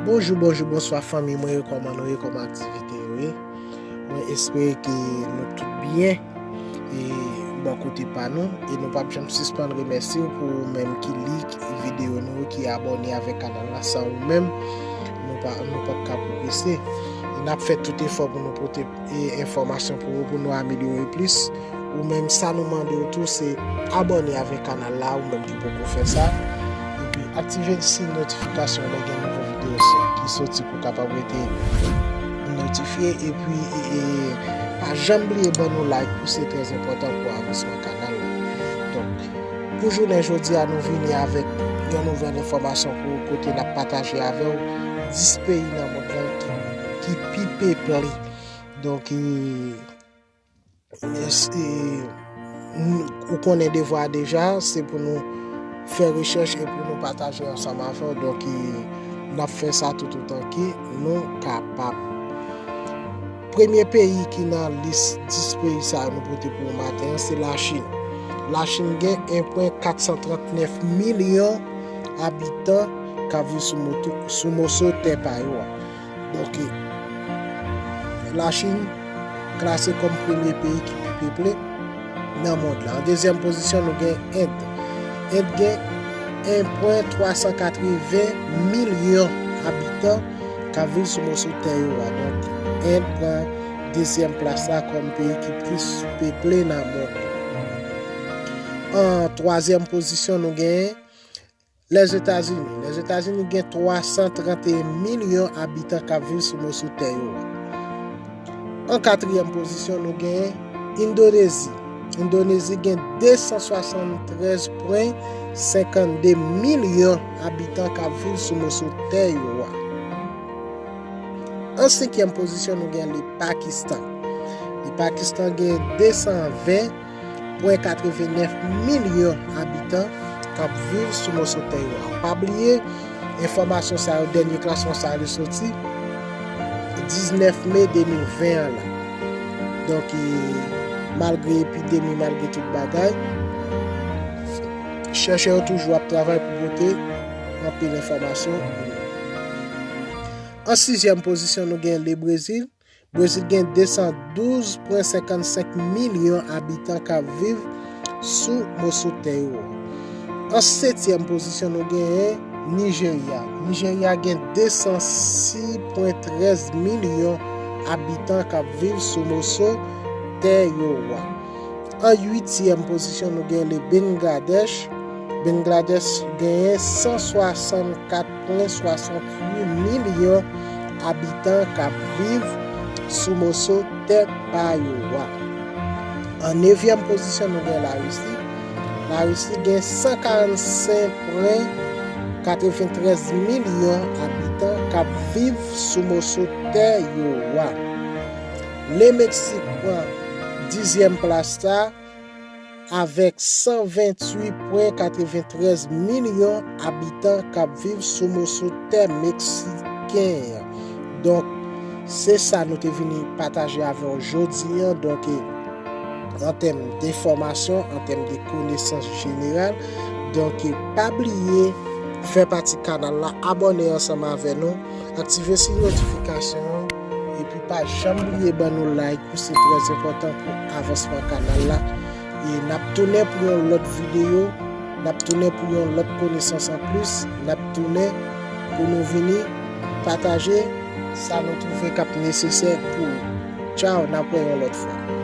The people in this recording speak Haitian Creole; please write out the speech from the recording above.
Bonjou bonjou bonswa fanmiy mwen yo kòman nou ye kòman aktivite yo ye mwen espere ke nou tout byen e bò kote pa nou e nou pap janm sispann remèsye w pou ou menm ki lik videyo nou ki abòne avèk kanal la san ou menm nou pap ka pwogrese e nap fè tout efò pou nou pote e enfòmasyon pou ou pou nou amelyore plis ou menm sa nou mande ou tou se abòne avèk kanal la ou menm ki poko fè sa epi aktive si notifikasyon lè gen nouvo video sou ki soti pou kapab rete notifye epi e pa janm bliye ban nou like pou se trè enpòtan pou avansman kanal la donk pou jounen jodi a nou vini avèk yon nouvèl enfòmasyon pou ou kote nap pataje avèw 10 peyi nan mond lan ki ki pi peple. Donk, eske ou konnen devwa a deja, se pou nou fè rechèch e pou nou pataje ansanm avè w. Donk, n ap fè sa tout otan ke nou kapab. Premye peyi ki nan lis 10 peyi sa yo nou pote pou ou maten an, se Lachin. Lachin gen 1,439 milyon abitan k ap viv sou moso tè pa yo a. Bòkè. Lachin klase kòm premye peyi ki pi peple nan mond la. An dezyèm pozisyon nou gen End. End gen 1.380 milyon abitan k ap viv sou moso tè yo a. Donk End pran dezyèm plas la kòm peyi ki plis peple nan mond la. An twazyèm pozisyon nou gen Lèzetazini Lèzetazini gen 331 milyon abitan k ap viv sou moso tè yo a. An katriyèm pozisyon nou gen Endonezi. Endonezi gen 273 pwen 52 milyon abitan k ap viv sou moso tè yo a. An senkyèm pozisyon nou gen Le Pakistan. Le Pakistan gen 220. pwen 89 milyon abitan k ap viv sou moso tè yo a. Pa bliye, enfòmasyon sa yo, dènye klasman sa yo soti 19 me 2020 an la. Donk, malgre epidemi, malgre tout bagay, chèchè yo toujou ap travay pou pote anpil enfòmasyon pou nou. An sizyèm pozisyon nou gen Lebrezil. Brezil gen 212,55 milyon abitan k ap viv sou moso tè yo. An setyèm pozisyon nou genyen Nijerya. Nijerya gen 206,13 milyon abitan k ap viv sou moso tè yo. An uityèm pozisyon nou genyen le Bengladèch. Bengladèch genyen 164. Pran 68 milyon abitan k ap viv sou moso tè pa yo a. An nevyèm pozisyon nou gen Larisi. Larisi gen 145 pwen 93 milyon abitan k ap viv sou moso tè yo a. Le Meksik pran dizyèm plas sa. Avèk 128 pwen 93 milyon abitan k ap viv sou moso tè meksiken an. Donk, se sa nou te vini pataje avè w jodi an. Donk, an tèm de fòmasyon, an tèm de konesans jeneral. Donk, pa bliye fè pati kanal la, abòne ansanm avè nou. Aktive siy notifikasyon an epi pa janm bliye ban nou like ou se trè enpòtan pou avansman kanal la e nap tounen pou yon lòt videyo nap tounen pou yon lòt konesans anplis nap tounen pou nou vini pataje sa nou twouve kap nesesè pou ou tchao nap wè yon lòt fwa.